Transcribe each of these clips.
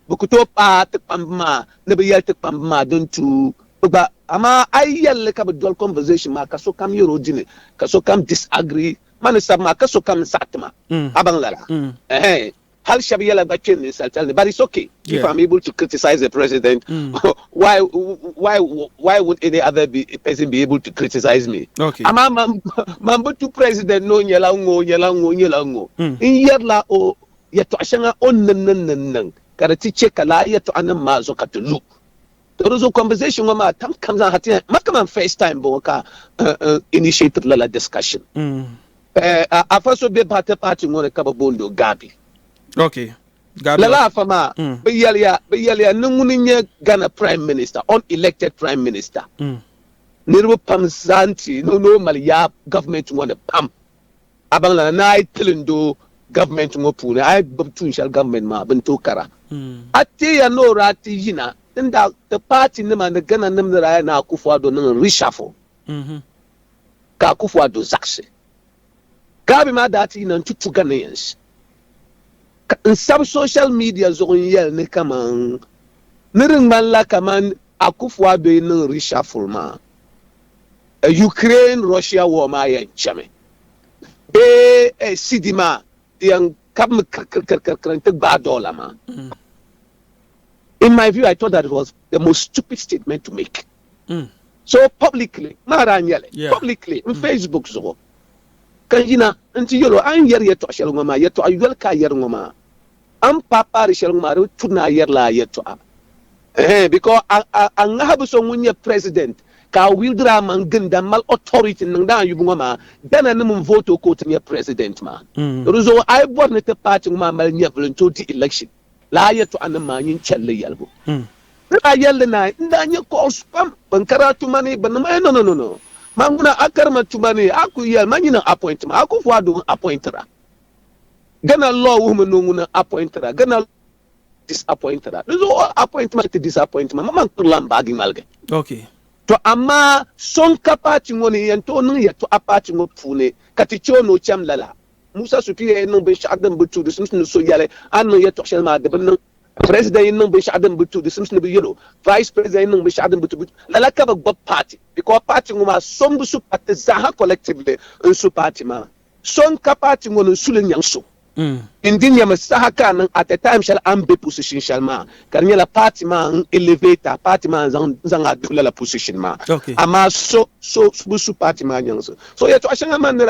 Bɛ ku tooi paai ti kpamba maa ni bɛ yɛli ti kpamba maa din tuui bɛ gba. Amaa a yi yɛli li ka bɛ doli conversation maa ka sokam yɛr o dini ka sokam disagree ma ni sabi maa ka sokam ni saɣi ti ma, a baŋ lala? Ɛhɛɛn. Hal shɛb yɛla gba kpe ninsalitali ni, but it's ok if I'm able to criticize a president, why why why won't any other be person be able to criticize me? Amaa man man bi tu president ni o nyɛla ŋ-ŋɔ o nyɛla ŋ-ŋɔ o nyɛla ŋ-ŋɔ. N yɛrila o. yɛtɔɣ shɛŋa o ni niŋ niŋ ni niŋ ka di ti chɛ ka lala yɛtɔɣanim maa zuɣu ka ti lu. To di zuɣu conversation ŋɔ maa tam kam zaaha ti ma kaman first time m-bɔŋɔ ka n initiate-ri lala discussion. Afa so be Bhati party ŋɔ ni ka bɛ booni o Gabi. Lala afa maa bɛ yɛliya bɛ yɛliya ni ŋuni n-nyɛ Ghana prime minister, unelected prime minister. Niriba pam zaa n-ti ni o mali yaai government ŋɔ ni pam. A baŋ lala ni a yi tili n-do gavumenti ŋɔ puuni, a yi gbubi tuun shɛli gavumenti maa bɛ ni tooi kara. A teeya ni o daa ti yina n daa ti paati nima ni Ghana nim ni daa yɛli ni Akuffo Addo niŋ reshuffle ka Akuffo Addo zaɣisi. Gavi maa daa ti yina n-ti tu Ghanaians ka n sabi social media zuɣu n yɛli ni kaman ni di ŋmanila kaman Akuffo Addo yi niŋ reshuffle maa, Ukraine Russia war maa yɛn chami bee CD maa di yɛn kabimi kirikirikiri n-ti gbaai dollar maa. Mm. In my view, I thought that it was the most stupid statement to make. Mm. So publicly, maa daa nyɛli, yeah. publicly, in mm. Facebook zuɣu, ka yina nti yɛlo a ni yɛri yɛtɔɣ shɛli ŋɔ maa yɛtɔɣ yoli ka a yɛri ŋɔ maa A ni paai paai di shɛli ŋɔ maa, di bi turi ni a yɛrila a yɛltɔɣa. Ɛhɛn, because a, a, a ŋahibu so ŋun nyɛ President ka a wield a maŋ ginda m-mali authority n-niŋdi a yubu ŋɔ maa, Ghana nim n-vote o ka o ti nyɛ President maa. Di di zuɣu a yi bɔri ni ti party ŋɔ maa mali nyɛvili n-ti o di election, lala a yɛltɔɣa nim maa nyin chɛli li yɛligu. N daa yɛli li naai, n daa nyɛ calls pam, bɛn kari a tuma ni, bɛ niŋma, eh, no, no, no, no, ma ŋuna, a kari ma tuma ni, a ku yɛli ma nyin n-appoint ma, Akufu Addo n-appointer a. Ghana law wuhimi ni ŋuni appointira Ghana law disappointira di zuɣu o appointment ti disappointment ma man kurila m-baagi ŋmaligi Okay. To amaa so n-ka paati ŋɔ ni n-yɛn tooi niŋ yɛltɔɣa paati ŋɔ puuni ka ti che o ni o cham lala. Musa Sutu yɛn niŋ binshɛɣu din bi tu di simsi ni so yɛli a ni niŋ yɛltɔɣ shɛli maa di bi niŋ. President yɛn niŋ binshɛɣu din bi tu di simsi ni bi yɛl o. Vice President yɛn niŋ binshɛɣu din bi tu di Lala ka bi gbubi paati because paati ŋɔ maa so m-bi su paati zaaha collectively n-su paati maa. So n ka paati ŋɔ ni n suli nyaŋ so n di nyami saha ka a niŋ at a time shɛli a ni be position shɛli maa ka di nyɛla paati maa n elevate a paati maa n zaŋ a duhi lala position maa amaa so so bi su paati maa nyaŋ so so yɛtɔɣa shɛŋa man ni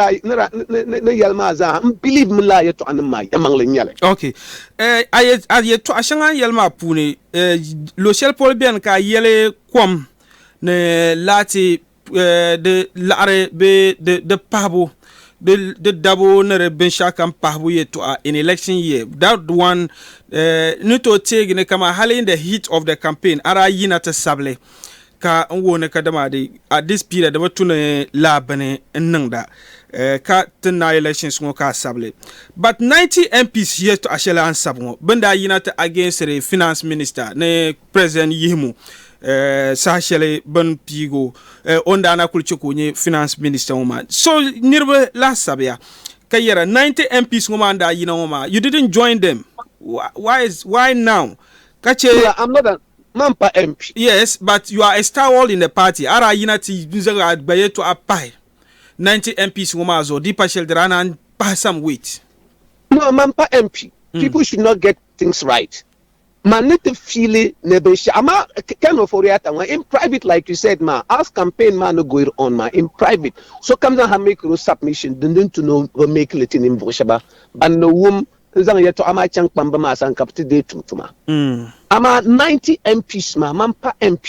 yɛli maa zaa n believe mi lala yɛtɔɣa nim maa yɛmaŋli n nyɛli. Ok a yɛtɔɣa shɛŋa n yɛli maa puuni luɣi shɛli polo beni ka a yɛli kom ni laati di laɣiri bee di, di pahibu, di, di dabu ni di binshɛɣu kam pahibu yɛtɔɣa in election year. That one eh, ni tooi teegi ni kama hali in the heat of the campaign a daa yina ti sabili ka n wuhi ni ka dama di at this period di bi tu ni laa bini n niŋda eh, ka ti na elections ŋɔ ka a sabili. But 90 MPs yɛtɔɣa shɛli a ni sabi ŋɔ bɛ ni daa yina ti against the finance minister ni president yihimu eh, saha shɛli bin piigo eh, o ni daa na kuli chɛ ka o nyɛ finance minister ŋɔ maa so niriba lahi sabiya ka yɛra 90 mps ŋɔ maa ni daa yina ŋɔ maa you didn't join them why, why, is, why now ka chɛ yeah, I'm not a, man pa mp yes but you are a stalwart in the party a daa yina ti n zaŋ a gba yɛtɔɣa pahi 90 mps ŋɔ maa zuɣu di pa shɛli di daa na pahi some weight no man pa mp hmm. people should not get things right Man ni ti fiili ni binshɛɣu maa can of oriata ŋɔ in private like you said maa as campaign maa ni goir on maa in private sokam zaŋ ha make ro submission din din tu ni o bi make li ti ninvuɣu shɛba ban ni wum n zaŋ yɛtɔɣa maa chaŋ kpambi maa sani ka bi ti dee tum tuma amaa ninety MPs maa man pa MP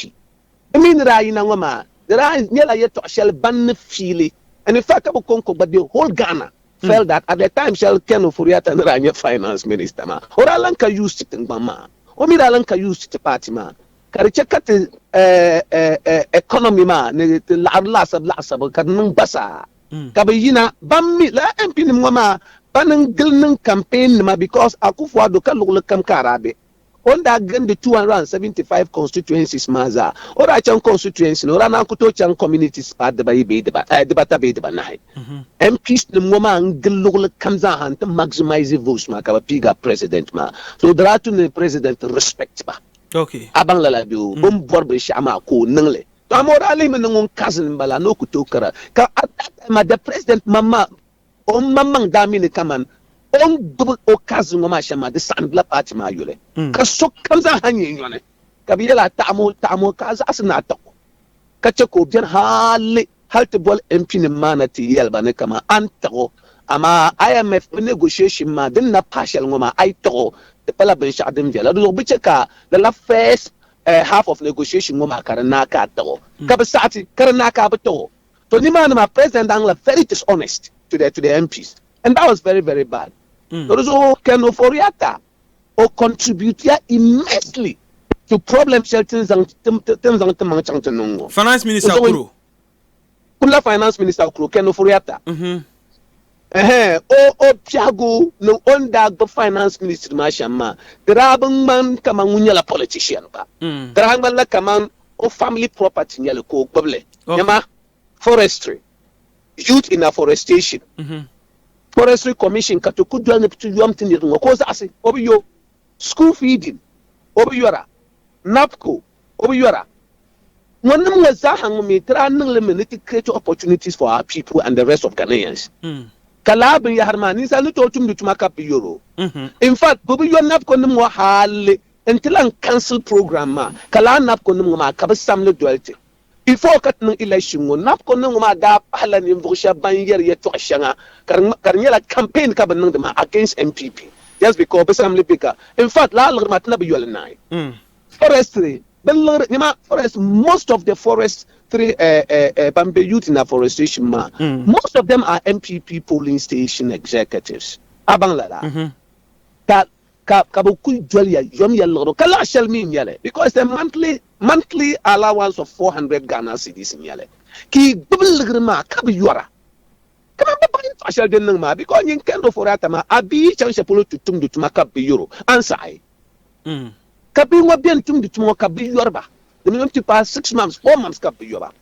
Di mi ni daa yina ŋɔ maa, di daa nyɛla yɛtɔɣ shɛli ban ni fiili and in fact ka bɛ kɔŋko gba the whole Ghana felt that at the time shɛli Ken Ofori-Atta ni daa nyɛ finance minister maa o daa lan ka use ti tiŋgbɔŋ maa, o mi daa lan ka use ti ti party maa ka di chɛ ka ti economy maa ni ti laɣiri laasabu laɣisabu ka di niŋ gbasaa ka bɛ yina. Ban mi lala MP nim ŋɔ maa pa ni n gili niŋ campaign nima because Akuffo-Addo ka luɣili kam ka a daa be. O ni daa gindi 275 constituencies maa zaa, o daa chaŋ constituency ni o daa naan ku tooi chaŋ communities paai dibayi bee dibata bee dibanahi. MPs nim ŋɔ maa n-gili luɣili kam zaa ha nti maximize votes maa ka bɛ piiga President maa. So di daa tu ni President respect ba. A baŋ lala bee? O ni bɔri binshɛɣu maa ka o niŋ li. Tɔ amaa o daa lihimi ni ŋun cousin m-bala ni o ku tooi kara. Ka at that time maa the President maŋmaŋ O maŋmaŋ daa mi ni kaman o ni gbibi o kazi ŋɔ maa shɛm maa, di saɣindila paati maa yoli ka sokam zaa ha nyɛ nyɔni, ka bɛ yɛl a taɣim o, taɣim o, ka a zaɣisi ni a tiɣ o, ka chɛ ka o beni hali hal ti boli MPnim maa na ti yɛl ba ni kaman a ni tiɣ o, amaa IMF bɛ negotiation maa din na pahi shɛli ŋɔ maa a yi tiɣ o, di pala binshɛɣu din viɛla. Dinzuɣu bɛ chɛ ka lala first half of negotiation ŋɔ maa ka di naai ka a tiɣ o, ka bɛ saɣiti ka di naai ka a bi tiɣ o. To nimaani maa president daa niŋla very dishonest to the to the MPs and that was very very bad. To di zuɣu Ken Ofori-Atta o contribute ya immensely to problem shɛli tin zaŋ tin tin zaŋ ti maŋ chaŋ ti niŋ ŋɔ. Finance minister kuro. Kula finance minister kuro Ken Ofori-Atta. Ɛhɛɛn o o biɛhigu niŋ o ni daa gbubi finance ministry maa shɛm maa di daa bi ŋmani kamani ŋun nyɛla politician gba di daa ŋmanila kamani o family property nyɛli ka o gbubili nyɛma forestry youth in afforestation forestry commission ka ti ku doli ni bi ti yom ti niriba ŋɔ ka o zaɣisi o bi yo school feeding o bi yora napco o bi yɔra. Ŋɔ nim ŋɔ zaaha ŋun mi tiri a niŋli mi ni ti create opportunities for our people and the rest of Ghanaians. Ka lala binyahiri maa ninsali ni tooi tumdi tuma ka bɛ bi yɔr o. In fact, bɛ bi yɔr NABCO nim ŋɔ hali n-ti lan cancel program maa. Ka lala NABCO nim ŋɔ maa ka bɛ samli doli ti. Before ka ti niŋ election ŋɔ, NABCO nim ŋɔ maa daa pahila ninvuɣ shɛba ban yɛri yɛtɔɣ shɛŋa ka di ka di nyɛla campaign ka bɛ niŋdi maa against NPP just because bɛ samli bɛ ka. In fact, lala liɣiri maa ti na bi yɔ li naai. Forestry bɛ liɣiri nɛma forest most of the forest three eh, eh, eh, ban be youth in afforestation maa mm. most of them are NPP polling station executives a baŋ lala mm -hmm. ka ka ka bɛ kuli doli ya yom ya liɣiri ka laɣa shɛli mi nyɛli because the monthly monthly allowance of 400 Ghana cedis nyɛli ka yi gbubi liɣiri maa ka bi yɔra kama bɛ baŋ yɛltɔɣa shɛli din niŋ maa because nyin kɛndofori atama a bi yi chaŋ shɛli polo ti tumdi tuma ka bi yɔro ansaɣi Ka bihi ŋɔ beni tumdi tuma ŋɔ ka bɛ yɔri ba di mini ti paai six months, four months ka bɛ yɔ ba.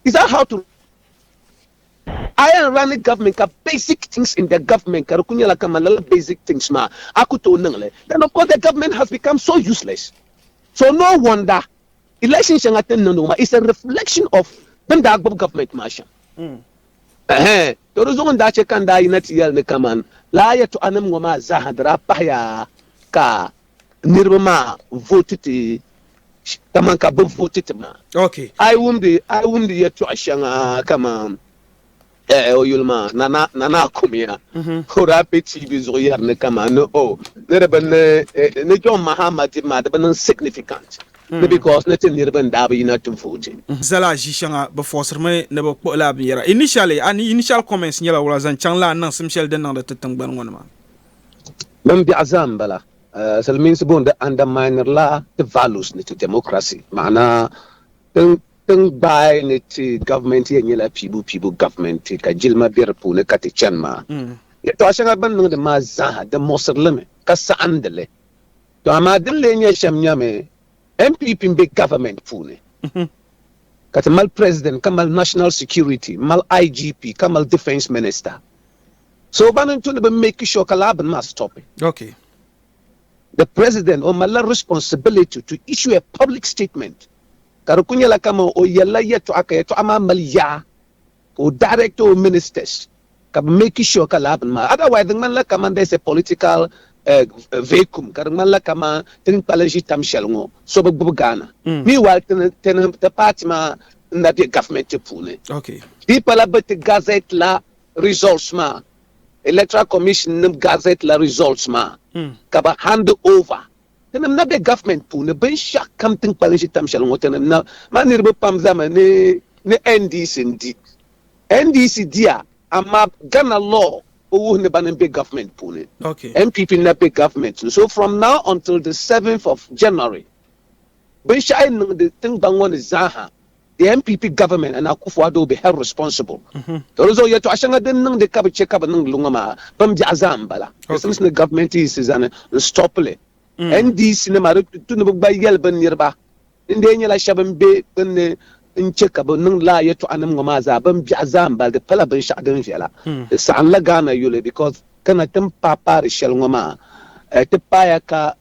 Is that how to a yɛn running government ka basic things in the government ka di kuli nyɛla kaman lala basic things maa a ku tooi niŋ li then of course the government has become so useless so no wonder election shɛŋa ti ni niŋdi ŋɔ maa is a reflection of bɛn daa gbubi government maa shɛm. Ɛhɛ! To di zuɣu n-daa chɛ ka n daa yina ti yɛli ni kaman lala yɛtɔɣanim ŋɔ maa zaaha di daa pahiya ka niriba maa vooti ti kaman ka bɛ vooti ti maa. A yi wumdi, a yi wumdi yɛtɔɣ shɛŋa kaman ɛhɛ o yuli maa, Nana, Nana Akumiya, o daa be TV zuɣu yɛri ni kaman ni, Oh, ni di bi niŋ, ni John Mahama di maa, di bi niŋ significant. ni because ni ti niriba n daa bi yina ti vote. Zala ʒi shɛŋa bɛ forced mi ni bɛ kpuɣi laa binyɛra. Initially a ni initial comments nyɛla wula zaŋ chaŋ laa niŋsim shɛli din niŋdi ti tingbani ŋɔ ni maa? Din biɛɣu zaa n bala. Silimiinsi bɔŋɔ di undermineri la ti values ni ti democracy. Maana ti ni gbaai ni ti government yɛn nyɛla piibu piibu government ka jilima be di puuni ka ti chani maa. Yɛltɔɣa shɛŋa bɛ ni niŋdi maa zaa ha di muɣisiri li mi ka saɣindi li. To amaa din lee nyɛ shɛm nyɛmi, NPP m-be Government puuni ka ti mali President ka mali National Security m-mali IGP ka mali Defence Minister. So ba ni to ni bɛ make sure ka lala bini maa stopi. The President o malila responsibility to issue a public statement ka di kuli nyɛla kaman o yɛlila yɛltɔɣa ka yɛltɔɣa maa mali yaa ka o direct o ministers ka bɛ make sure ka lala bini maa otherwise di ŋmanila kaman there's a political vacuum ka di ŋmanila kaman ti ni kpalim ʒi tam shɛli ŋɔ so bi gbubi Ghana meanwhile ti ni ti party maa n na be government puuni di pala bɛ ti gazette la results maa electoral commission nim gazette la results maa ka bɛ hand over Tinim na be government puuni binshɛɣu kam tin kpalim ʒi tam shɛli ŋɔ tinim na ma niriba pam zami ni ni NDC n di NDC diya amaa Ghana law bi wuhi ni bani n be government puuni NPP n na be government ni so from now until the 7th of January binshɛɣu yi niŋdi tingban ŋɔ ni zaa ha The NPP government and Akufo-Addo be held responsible to di zuɣu yɛltɔɣa shɛŋa din niŋdi ka bi chɛ ka bɛ niŋdi li ŋɔ maa bin biɛɣu zaa m-bala. Di simsi ni gavumenti yiɣisi zani n-stop li. NDC nima di tu ni bɛ gba yɛli bɛ niriba din dee nyɛla shɛba m-be gbunni n-chɛ ka bɛ niŋdi lala yɛltɔɣanim ŋɔ maa zaa bin biɛɣu zaa m-bala. Di pala binshɛɣu din viɛla. Di saɣimla Ghana yuli because kana ti ni paai paari shɛli ŋɔ maa ti paaya ka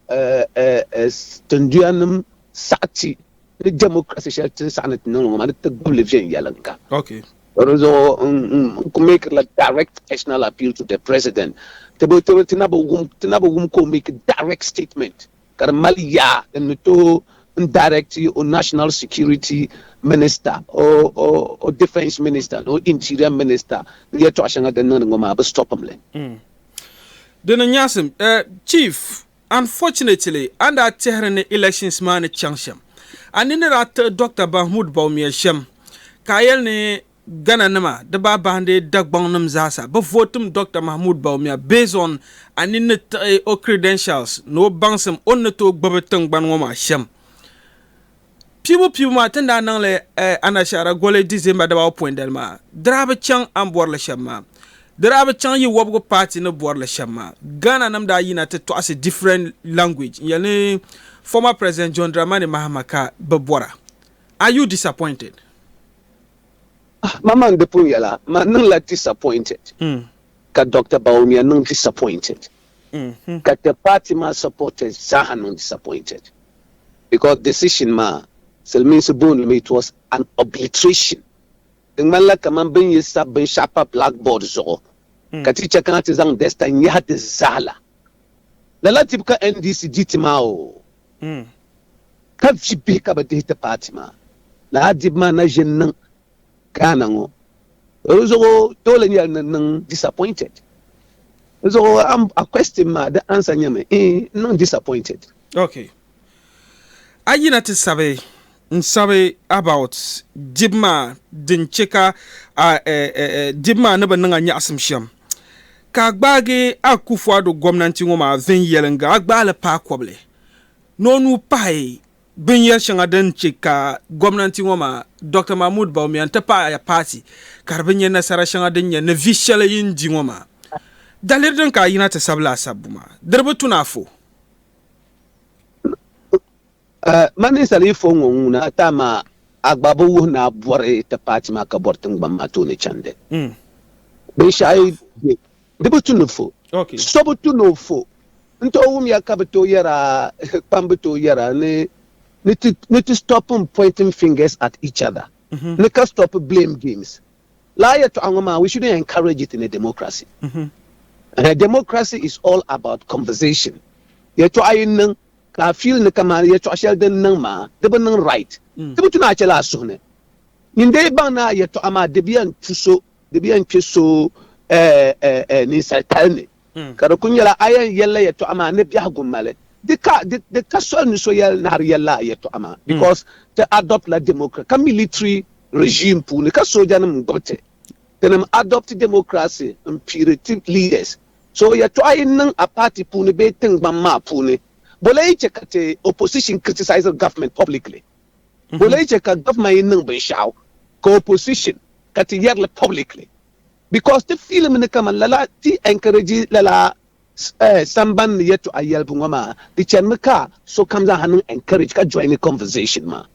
tinduyanim saɣiti. ni democracy shɛli tin saɣi ni ti niŋ ŋɔ maa ni ti gbubi li viɛnyɛliŋga. Okay. Di zuɣu n ku make la direct personal appeal to the president ti bi ti ti na bi wum ti na bi wum ka o make direct statement ka di mali yaa din ni tooi n direct o national security minister o o o defence minister ni o interior minister ni yɛltɔɣa shɛŋa din niŋdi ŋɔ maa bi stop m li. Di ni nyaɣisim eh, Chief Unfortunately, a ni daa tɛhiri ni elections maa ni chaŋ shɛm, a ni ni daa tiɣi Doctor Bahmoud Bawumia shɛm, ka a yɛli ni Ghana nima di baa bahindi Dagbaŋ nim zaasa bi vote-m Doctor Mahmoud Bawumia based on a ni ni tiɣi o credentials ni o baŋsim o ni ni tooi gbubi tiŋgbani ŋɔ maa shɛm. Piibu piibu maa ti ni daa niŋli Anashaara goli December dabawɔbu poindali maa, di daa bi chaŋ a ni bɔri li shɛm maa. Di daa bi chaŋ yi wɔbigu paati ni bɔri li shɛm maa. Ghana nim daa yina ti tɔɣisi different language n yɛli ni former President John Dramani Mahama ka bi bɔra. Are you disappointed? Ah, ma man di pun yɛla ma niŋla disappointed, ka Doctor Bawumia niŋ disappointed. ka ti party maa supporters zaaha niŋ disappointed because decision maa silimiinsi boonimi it was an obliteration di ŋmanila kaman bɛ ni yi sabi binshɛɣu pa blackboard zuɣu ka ti chɛ kana ti zaŋ duster nyahi di zaa la. Lala dibu ka NDC di ti maa oo ka vi bihi ka bɛ dihi ti party maa. Lala dibu maa na ʒe n-niŋ Ghana ŋɔ di zuɣu toole nyɛla ni niŋ disappointed di zuɣu a question maa di answer nyɛmi ee n niŋ disappointed. Ok a yina ti sabi n sabi about dibu maa din che ka a dibu maa ni bi niŋ a nyaɣisim shem ka a gbaagi Akufuado gomnanti ŋɔ maa viɛnyɛlinga a gbaali paai kobli ni o nuu pahi Binyɛri shɛŋa din chɛ ka gomnanti ŋɔ maa, Dr Mahmoud Bawumia n-ti pahi a paati ka di bi nyɛ nasara shɛŋa din nyɛ ni vi shɛli yi ni di ŋɔ maa. Daliri din ka a yina ti sabili a sabbu maa, di di bi tu ni a fo. Mani ninsal yi fo ŋɔ ŋuna ti a maa, a gba bi wuhi ni a bɔri ti paati maa ka bɔri tiŋgbani maa tooni chandi binshɛɣu yi be. Di bi tu ni fo. So bi tu ni o fo. N tooi wumya ka bi tooi yɛra, kpam bi tooi yɛra ni ni ti stop pointing fingers at each other, ni ka stop blame games. Lala yɛltɔɣa ŋɔ maa, we shouldn't encourage it in a democracy. Democracy is all about conversation. Yɛltɔɣa yi niŋ ka a feel ni kamani yɛltɔɣa shɛli din niŋ maa di bi niŋ right, di bi tu ni a chɛla a suhu ni. Nyin dee baŋ ni a yɛltɔɣa maa dibiya n-tu so di bi yɛn kpe so ninsal kali ni, ka di kul nyɛla a yɛn yɛlila yɛtɔɣa maa ni biɛhigu mali di ka di ka soli ni so yɛli naɣiri yɛlila a yɛtɔɣa maa because ti adopt la democracy ka military regime puuni ka soojanim n-gbubi ti. Tinim adopt democracy m-piiri ti leaders. So yɛtɔɣa yi niŋ a party puuni bee tiŋgbani maa puuni, bole yi chɛ ka ti opposition criticises government publicly? Ka o lee che ka government yi niŋ binshɛɣu ka opposition ka ti yɛrili publicly because ti feel mi ni kaman lala ti encourage lala samban ni yɛltɔɣa yɛlibu ŋɔ maa di chani mi ka sokam zaa ha niŋ encourage ka join conversation maa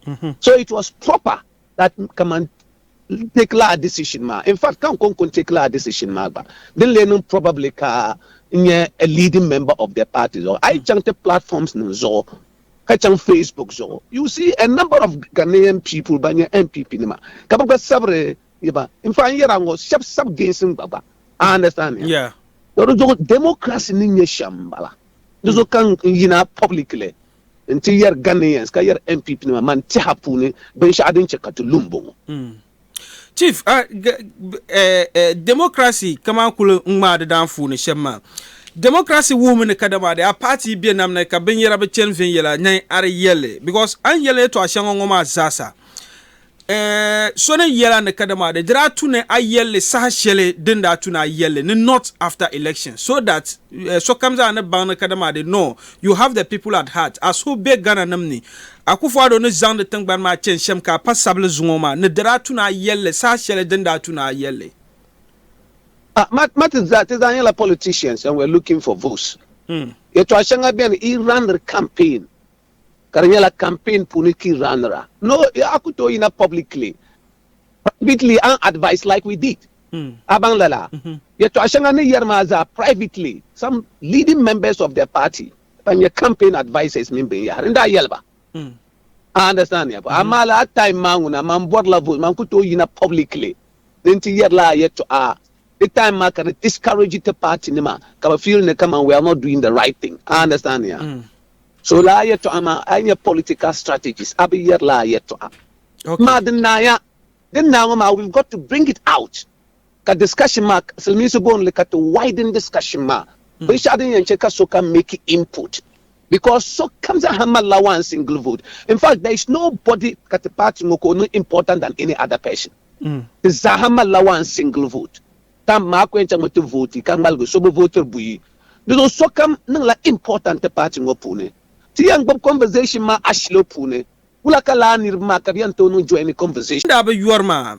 so it was proper that kaman take lala decision maa in fact ka n ko n kun take lala decision maa gba din lee niŋ probably ka n nyɛ a leading member of the party zuɣu a yi chaŋ ti platforms nim zuɣu ka chaŋ Facebook zuɣu, you see a number of Ghanaian people ban nyɛ NPP nima ka bɛ gba sabiri yi ba. In fact, n yɛri a ŋɔ, shɛba sabi Gains n gba gba. A understand ya? Yeah. Tɔ di zuɣu democracy ni nyɛ shɛm n bala. Di zuɣu ka n yina publicly n ti yɛri Ghanaians ka yɛri NPP nima man tɛha puuni binshɛɣu din chɛ ka ti lu m bɔŋɔ. Chief, uh, eh, eh, democracy kaman kuli ŋmaa di daanfuuni shɛm maa. Democracy wuhimi ni kadama di a party be nam ni ka binyɛra bi chani viɛnyɛla na ari yɛlli because a ni yɛli yɛtɔɣa shɛŋa ŋɔ maa zaasa eh, so ni yɛla ni kadama di daa tu ni a yɛlli saha shɛli din daa tu ni a yɛlli ni not after election so that eh, sokam zaa ni baŋ ni kadama di no you have the people at heart as who be Ghana nim ni Akufu Addo ni zaŋdi tingbani maa chani shɛm ka a pa sabili zuŋɔ maa ni di daa tu ni a yɛlli saha shɛli din daa tu ni a yɛlli. Ah ma ma ti zaa ti zaa nyɛla politicians and we're looking for votes. Yɛtɔɣa shɛŋa beni i raniri campaign ka di nyɛla campaign puuni ka i ranira. No a ku tooi yina publicly privately a ni advise like we did. A baŋ lala? Yɛtɔɣa shɛŋa ni yɛri maa zaa privately some leading members of the party ka nyɛ campaign advices mini binyahiri n daa yɛli ba a understand ya bɔ amaa laa time maa ŋuna man bɔrila vote man ku tooi yina publicly ni n ti yɛrila a yɛtɔɣa di time maa ka di discourage ti party nima ka bi feel ni kaman we are not doing the right thing a understand ya so laa yɛtɔɣa maa a yi nyɛ political strategies a bi yɛrila a yɛtɔɣa maa din naaya din naa ŋɔ maa we've got to bring it out Ka discussion maa silimiinsi booni li ka ti widen discussion maa binshɛɣu din yɛn che ka sokam make input because sokam zaaha malila one single vote in fact there is nobody ka ti party ŋɔ ka o niŋ important than any other person ti zaaha malila one single vote tam maa ku yɛn chaŋmi ti vote ka ŋmaligi so bi votiri buyi di zuɣu sokam niŋla important ti party ŋɔ puuni ti yɛn gbubi conversation maa ashilo puuni wula ka laa niriba maa ka bɛ yɛn tooi niŋ join conversation. Ŋun daa bi yɔri maa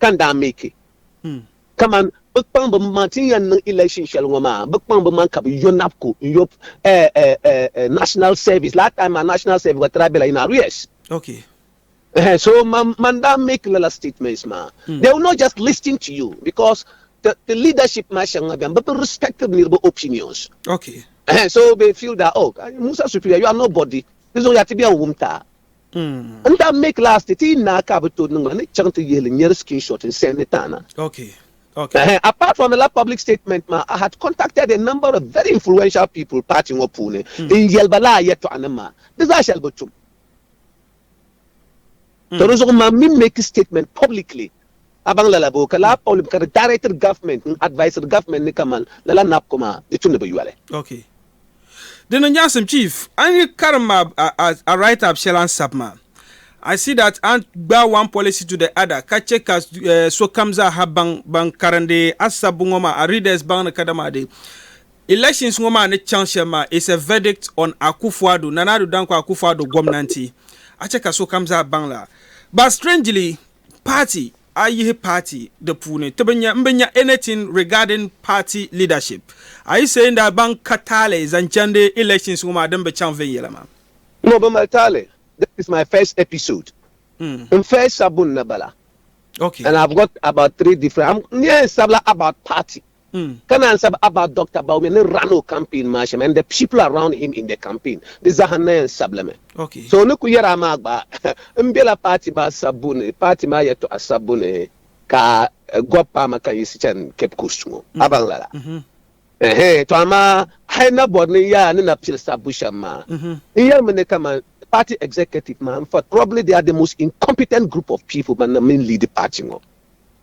ka n daa make kaman bɛ kpaŋ bɛ maŋ ti ni yɛn niŋ election shɛli ŋɔ maa bɛ kpaŋ bɛ maŋ ka bɛ yo NAPCO n yo national service last time maa national service gba tira bela in arrears so man daa make lala statements maa they will not just listen to you because ti leadership maa shɛŋa beni bɛ bi respect niriba opinions so they feel that oh Musa Superior you are nobody ti zuɣu yaa ti bɛn wumta N daa make last ti yi naai ka a bi tooi niŋ ma ni chaŋ ti yihili n nyari screenshot n send ti a na. Apart from lala public statement maa, I had contacted a number of very influential people party ŋɔ puuni n yɛli ba lala yɛltɔɣa nim maa. Di zaa shɛli bi tum. To di zuɣu mam mi make statement publicly A baŋ lala boo ka laa Paul bi ka di directed government n advised government ni kaman lala NAPCO maa di tumdi bi yoli. Ok. Di ni nyaɣisim Chief, a ni yi karim a a a write up shɛli a ni sabi maa, I see that a ni gbaai one policy to the other ka chɛ ka sokam zaa ha baŋ ban karindi a sabbu ŋɔ maa a readers baŋ ni kadama di elections ŋɔ maa ni chaŋ shɛm maa is a verdict on Akufuado, Nana Addo Dankwa Akufuado gomnanti. A chɛ ka sokam zaa baŋ la. But strangely, party a yihi party di puuni ti bi nya n bi nya anything regarding party leadership a yi saying that ban ka taali zaŋ chandi elections ŋɔ maa din bi chaŋ viɛnyɛla maa. N ŋɔ bi mali taali this is my first episode n first sabbu n na bala and I have got about three different n ni yɛn sabila about party ka naan sabi about Doctor Bawumia ni ran o campaign maa shɛm and the people around him in the campaign, di zaa ha n na yɛn sabilimi. So o ni ku yɛri a maa gba, n bela party maa sabbu ni, party maa yɛtɔɣa sabbu ni ka Gob paama kan yiɣisi chani Cape Coast ŋɔ. A baŋ lala? Ɛhɛɛn, tɔ amaa a yi na bɔri ni n yaa ni na pili sabbu shɛm maa, n yɛlimi ni kaman party executive maa, in fact, probably they are the most incompetent group of people ban na mi n leadi party ŋɔ.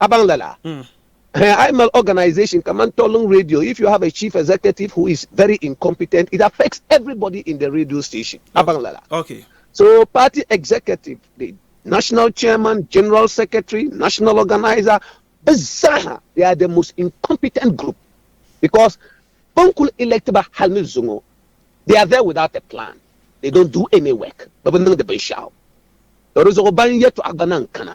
A baŋ lala? Hɛɛ a yi mali organisation kamani Tolling Radio if you have a chief executive who is very incompetent it affects everybody in the radio station. A baŋ lala? So party executive ni national chairman, general secretary, national organiser bɛ zaaha they are the most incompetent group because bɛ ni kuli elect ba hali ni zuŋɔ they are there without a plan they don't do any work bɛ bi niŋdi binshɛɣu to di zuɣu ban yɛtɔɣa gba na n-kana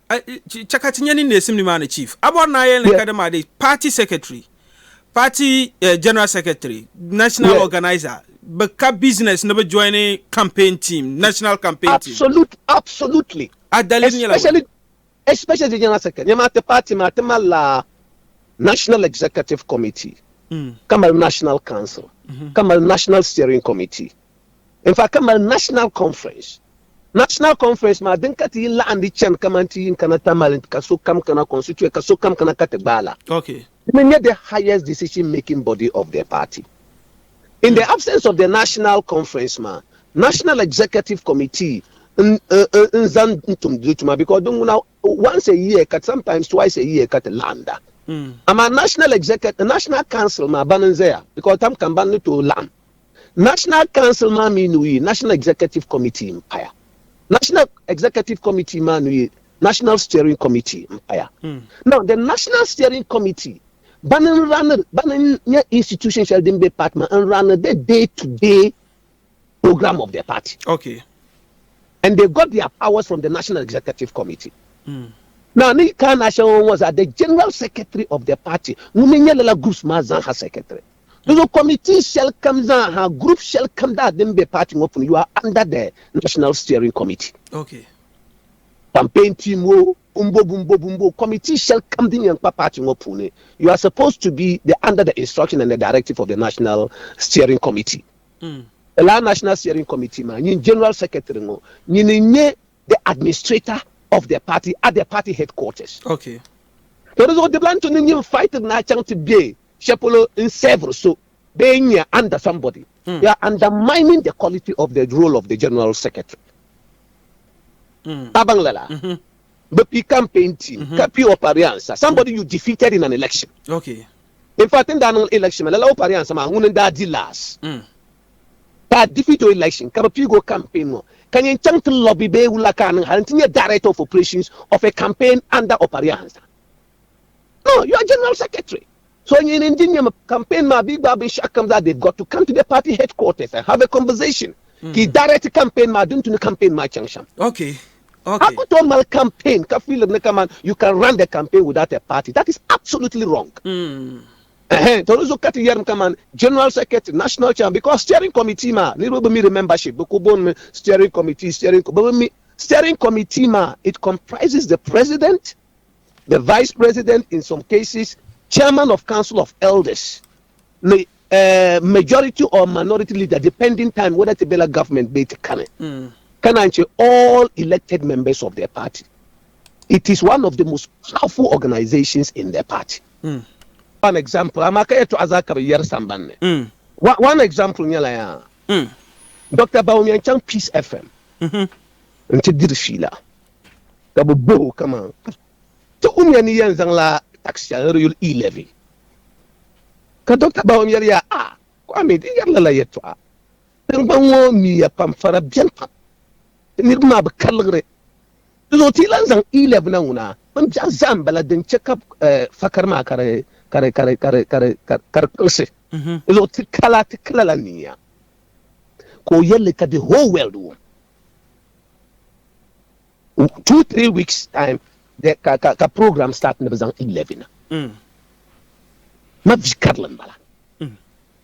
Chɛ ka ti nya ni neesim nimaani chief Abɔr naa yɛli ni ka dama di party secretary, party general secretary, national organizer bi ka business ni bi joini campaign team, national campaign team. Absolutely. A daliri nyɛla bɔni? Especially general secretary. Nya maa ti party maa ti malila national executive committee, ka mali national council, ka mali national steering committee. In fact, ka mali National Conference. National Conference maa din ka ti yi laɣindi chani kamani ti yin kana Tamale ka sokam kana constituent ka sokam kana ka ti gbaai la. Okay. Di mi nyɛ the highest decision making body of the party. In the absence of the National Conference maa, National Executive Committee n zan n tum di tuma because di ŋuna once a year ka sometimes twice a year ka ti laɣinda. Amaa National Executive, National Council maa bani n zaya because tam kam bani ni tooi laɣim. National Council maa mi nuu yi National Executive Committee m-paya. National Executive Committee maa nuu yi National Steering Committee m-paya. Now, the National Steering Committee bana n-run, bana n-nyɛ institution shɛli din be party maa n-run the day to day program of the party. Okay. And they got their powers from the National Executive Committee. Now, ni yi kana shɛŋa ŋɔ zaa, the General Secretary of the party ŋun mi nyɛ lala groups maa zaa ha secretary. Di zuɣu Committee shɛli kam zaa ha, group shɛli kam daa din be party ŋɔ puuni, you are under the National Steering Committee. Okay. Campaign team wo, bumbo bumbo bumbo, committee shɛli kam din yɛn kpa party ŋɔ puuni, you are supposed to be the under the instruction and the directive of the National Steering Committee. Lala National Steering Committee maa nyini General Secretary ŋɔ nyini n-nyɛ the administrator of the party at the party headquarters. Okay. To di zuɣu dibila n tuni nyini fighting na chaŋ ti be shɛli polo n serve so bee n nyɛ under somebody. Mm. You are undermining the quality of the role of the general secretary. Mm. A baŋ lala. Mm -hmm. Bi pi campaign team mm -hmm. ka pi o pariansa somebody mm. you defeated in an election. Okay. In fact, in daa niŋ election lala o pariansa maa ŋuni n daa di last. Mm. ka a defeat o election ka bi piigi o campaign ŋɔ ka nyin chaŋ ti lobby bee wula ka a niŋ hali n ti nyɛ director of operations of a campaign under Opariah Ansah? No, you are general secretary. So nyin n di nyɛm campaign maa bee gbaai binshɛɣu kam zaa they've got to come to the party headquarters and have a conversation ka yi direct campaign maa din tu ni campaign maa chaŋ shɛm. Okay, okay. A ku tooi mali campaign ka fiili di ni kaman you can run the campaign without a party, that is absolutely wrong. Ɛhɛn, tɔ di zuɣu ka ti yɛrim kaman General Secretary, National Chairman because Steering Committee maa niriba bi mi di membership, bɛ ku booni mi Steering Committee, Steering Committee, bɛ bi mi Steering Committee maa it comprises the President, the Vice President in some cases, Chairman of Council of Elders ni uh, majority or minority leader depending time whether ti bela government bee ti kani mm. ka naan che all elected members of their party. It is one of the most powerful organizations in their party. Mm. One example, amaa ka yɛltɔɣa zaa ka bi yɛri samban ni. Mm. One, one example nyɛla yaa. Mm. Doctor Baum yɛn chaŋ Peace FM mm -hmm. n ti diri fiila ka bi boh o kaman ti umiya ni yɛn zaŋla tax shɛli di yuli e-levy ka Doctor Baum yɛri yaa a ah, Kwame di yɛri lala yɛltɔɣa tiŋgbani ŋɔ miya pam fara bɛni pam niriba maa bi ka liɣiri Dinzuɣu ti yi lan zaŋ Iɛb na ŋuna, Bin biɛɣu zaa m-bala din chɛ ka fakar maa ka di kpiɣisi. Dinzuɣu ti ka la ti kila la niya ka o yɛl li ka the whole world wum. Two, three weeks time ka program start ni bɛ zaŋ Iɛb na. Mavi karili m-bala.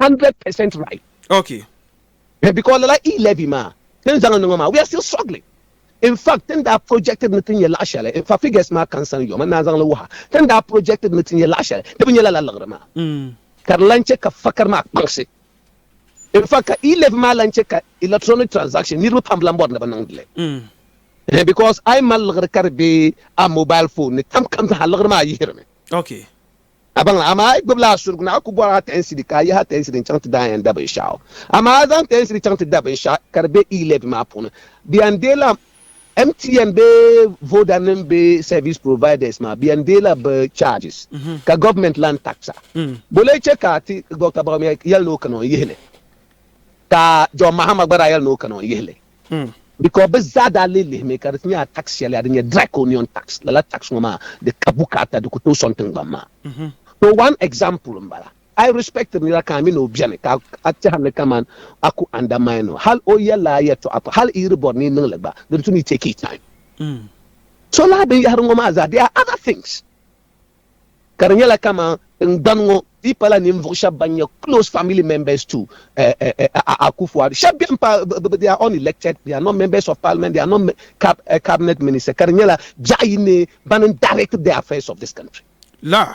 hundred percent right. Okay. Eh, because lala e levy ma tin zaŋ niŋɔ ma we are still struggling. In fact, tin daa projected ni tin nyɛ laɣa shɛli, in fact figures ma kan san yɔ, man naa zaŋli wuha, tin daa projected ni tin nyɛ laɣa shɛli, di bi nyɛ lala liɣiri maa. Mm. Ka di lan chɛ ka fakari maa kpaŋsi. In fact, ka e levy maa lan chɛ ka electronic transaction niriba pam lan bɔri ni bɛ niŋdi li. Mm. Eh, because a yi mali liɣiri ka di be a mobile phone ni, tam kam zaa liɣiri maa yihiri mi. Okay. A baŋla, amaa a yi gbibila a surigu ni a ku bɔri a tɛhinsiri ka a yihi a tɛhinsiri n-chaŋ ti daanya n-da binshɛɣu, amaa a zaŋ tɛhinsiri chaŋ ti da binshɛɣu ka di be e-levy maa puuni, bɛ yɛn deei la MTN bee Vodanim bee service providers maa, bɛ yɛn deei la bɛ charges ka gɔvimɛnti lan tax a. Bɔ lee chɛ ka a ti Dɔkta Bawumia yɛli ni o kana o yihi li, ka John Mahama gba daa yɛli ni o kana o yihi li. Hmm. Because bɛ zaa daa lee lihimi ka di ti nyɛ a tax shɛli a din nyɛ draconian tax. Lala tax ŋɔ maa di ka bukaata di ku tooi sɔŋ tiŋgbani maa. Mhm. So one example m-bala. A yi respectiri nira ka a mi ni o beni ka a tɛhiri ni kaman a ku undermine o hal o yɛlla a yɛtɔɣa pam hal i yi di bɔri ni yi niŋ li gba di ni tu ni yi take i time. Hmm. So lala binyɛhiri ŋɔ maa zaa they are other things. ka di nyɛla kaman tingbani ŋɔ dii pala ninvuɣ shɛb ban nyɛ close family members to Akufo-Addo. Shɛb beni pa, they are unelected, they are not members of parliament, they are not cabinet ministers, ka di nyɛla biɛɣu yi ni bani n-direct the affairs of this country. Lah!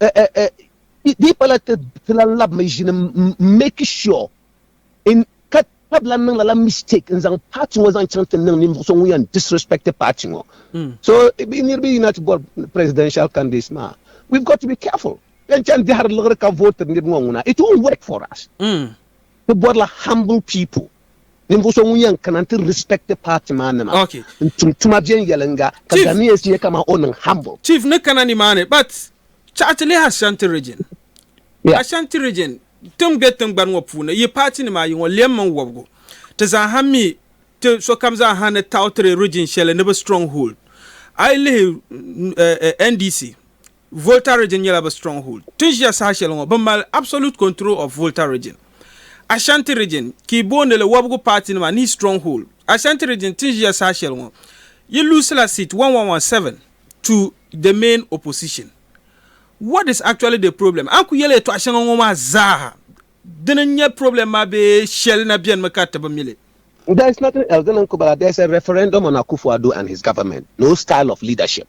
Eh eh eh di pala ti ti lan labi mi ʒini m make sure in ka tab lan niŋ lala mistake n zaŋ party ŋɔ zaŋ chaŋ ti niŋ ninvuɣu so ŋun yan disrespect party ŋɔ so bi niriba yina ti bɔri presidential candidates maa we've got to be careful yan chaŋ dihiri liɣiri ka vote niriba ŋɔ ŋuna it won't work for us ti bɔrila humble people. Ninvuɣu so ŋun yɛn kana nti respect party maa nima Okay. n tum tuma viɛnyɛlinga ka Chief. Ghanaians nyɛ kaman o niŋ humble. Chief ni kana ni maa ni but chaɣi ti lihi Ashanti region. Yeah. Ashanti region ti ni be tingbani ŋɔ puuni yi party nima ayi ŋɔ lɛm mini wɔbigu ti zaa ha mi ti sokam zaa ha ni taɣi tiri region shɛli ni bi strong hold. A yi lihi eh, eh, NDC Volta Region nyɛla bɛ stronghold. Ti ʒiya saha shɛli ŋɔ, bɛ mali absolute control of Volta Region. Ashanti Region, ka yi boondi li wɔbigu paatinima ni stronghold. Ashanti Region ti ni ʒiya saha shɛli ŋɔ, yi luusila seat 1117 to the main opposition. What is actually the problem? A ni ku yɛli yɛtɔɣa shɛŋa ŋɔ maa zaaha, dini n-nyɛ problem maa bee shɛli na benimi ka ti bi mi li? There is nothing else, dini n-ku bala, there is a referendum on Akufo-Addo and his government, no style of leadership.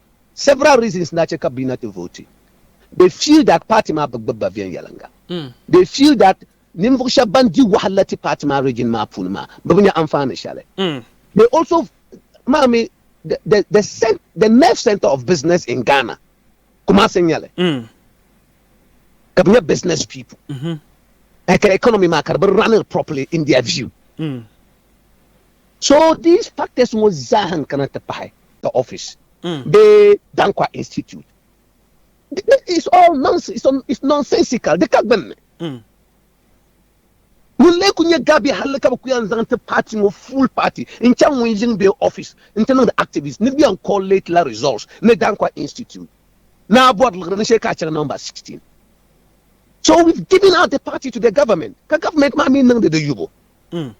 Several reasons daa che ka bɛ na ti vooti. They feel that party maa bi gbibi ba viɛnyɛliŋga. They feel that ninvuɣ shɛba ban di wahala ti party maa region maa puuni maa bɛ bi nya anfaani shɛli. They also maa mi the the cent the nerve centre of business in Ghana Kumasi n-nyɛ li ka bɛ nyɛ business people ka economy maa ka di bi run-iri properly in their view. So these factors ŋɔ zaaha n kana ti pahi the office bee Danquah Institute it's all nonsense it's nonsensical di ka gbunni ŋun lee ku nyɛ gabi halli ka bi ku yan zaŋ ti party ŋɔ full party n chaŋ ŋun yiŋ bee office n ti niŋdi activist ni bi yan collate la results ni Danquah Institute ni a bɔri liɣiri ni shee ka a chaŋ number 16 so we've given out the party to the government ka government maa mi niŋdi di yubu Mm.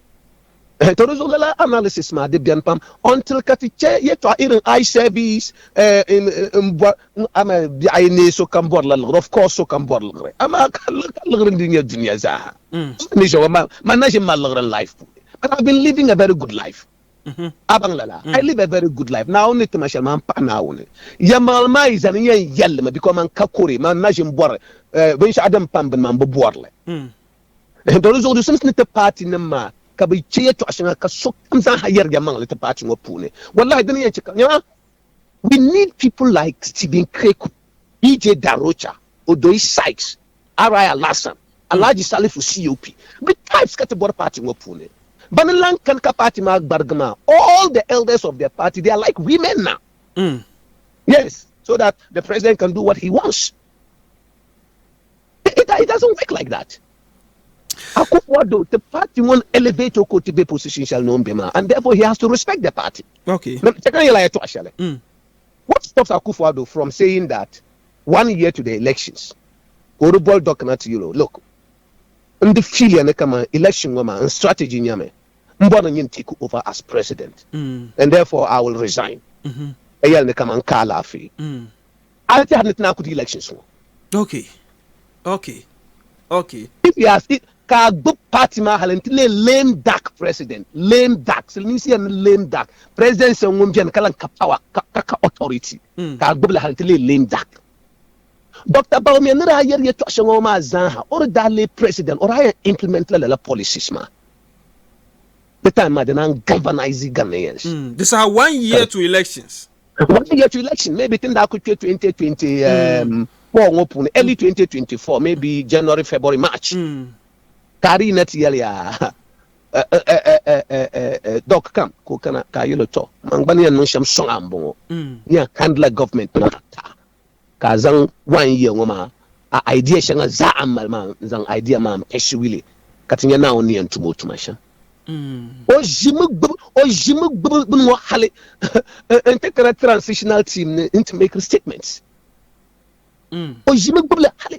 Eh, to di zuɣu lala analysis maa di bɛni pam until ka ti chɛ yɛtɔɣa irin eye service eh, in, in bɔ n ama biɛɣu ayi nee so kam bɔrila liɣiri of course so kam bɔri liɣiri amaa ka ka liɣiri ndi nyɛ dunia zaaha Mm. ni ʒɛwa ma ma na ʒin mali liɣiri n life puuni but I've been living a very good life Mhm. a baŋ lala Mm. I live a very good life naawuni ni tima shɛli maa n paɣi naawuni yɛmaŋli maa yi zani n yɛn yɛlli mi because man ka kore man na ʒin bɔri eh, binshɛɣu din pam bini maa n bi bɔrili Mm. Doli zuɣu di simsi ni ti paati nim maa ka bi che yɛtɔɣa shɛŋa ka sokam zaaha yɛri ya maŋli ti paati ŋɔ puuni. Wallahi dini yɛn che ka nyama we need people like Stephen Kweku, DJ Darocha, Odoi Sykes, RI Alasan, Alhaji Salifu COP bi types ka ti bɔri paati ŋɔ puuni. Bani lan kani ka paati maa gbarigi maa all the elders of the party they are like women now. Yes, so that the president can do what he wants. It doesn't work like that. Akufo-Addo ti party ŋɔ n elevate o ka o ti be position shɛli ni o ni be maa and therefore he has to respect the party. Okay. Chɛ ka n yɛli a yɛtɔɣa shɛli. Mm. What stops Akufo-Addo from saying that one year to the elections ka o di boli dɔɣi kana ti yɛl o, look, n di feel ya ni kaman election ŋɔ maa n strategy nyɛmi m bɔri ni nyin take over as president Mm. and therefore I will resign. Mhm. Ka yɛli ni kaman n ka alaafee. Mm. A ni tɛhiri ni ti naan kudi elections ŋɔ. Ok. Ok. Ok. If you ask it, ka a gbib party maa hali nti leei lame duck president. Lame duck. Silimiinsi yɛli ni lame duck. President so ŋun beni ka lan ka power ka ka ka authority ka a gbibili hali nti leei lame duck. Doctor Bawumia ni daa yɛri yɛtɔɣ shɛŋa ŋɔ maa zaa ha, o di daa leei president, o daa yɛn implement la lala policies maa. Di time maa di naan galvanise Ghanaians. Di saha one year to elections When yet election maybe tin daa ku kpe 2024 ŋɔ puuni early 2024 maybe January February March ka a di yina ti yɛli yaa doc kam ka o kana ka a yɛli o tɔ man gba ni yɛn niŋ shɛm sɔŋ a m-bɔŋɔ ni a handla government maa taa Ka a zaŋ wain yiya ŋɔ maa a aidiya shɛŋa zaa a ni mali maa n-zaŋ aidiya maa m-pɛshigi li ka ti nya Naawuni ni yɛn tum o tuma shɛm. O ʒimi gbibi bini ŋɔ hali n-ti kana transitional team ni n-ti make statements. O ʒimi gbibi li hali.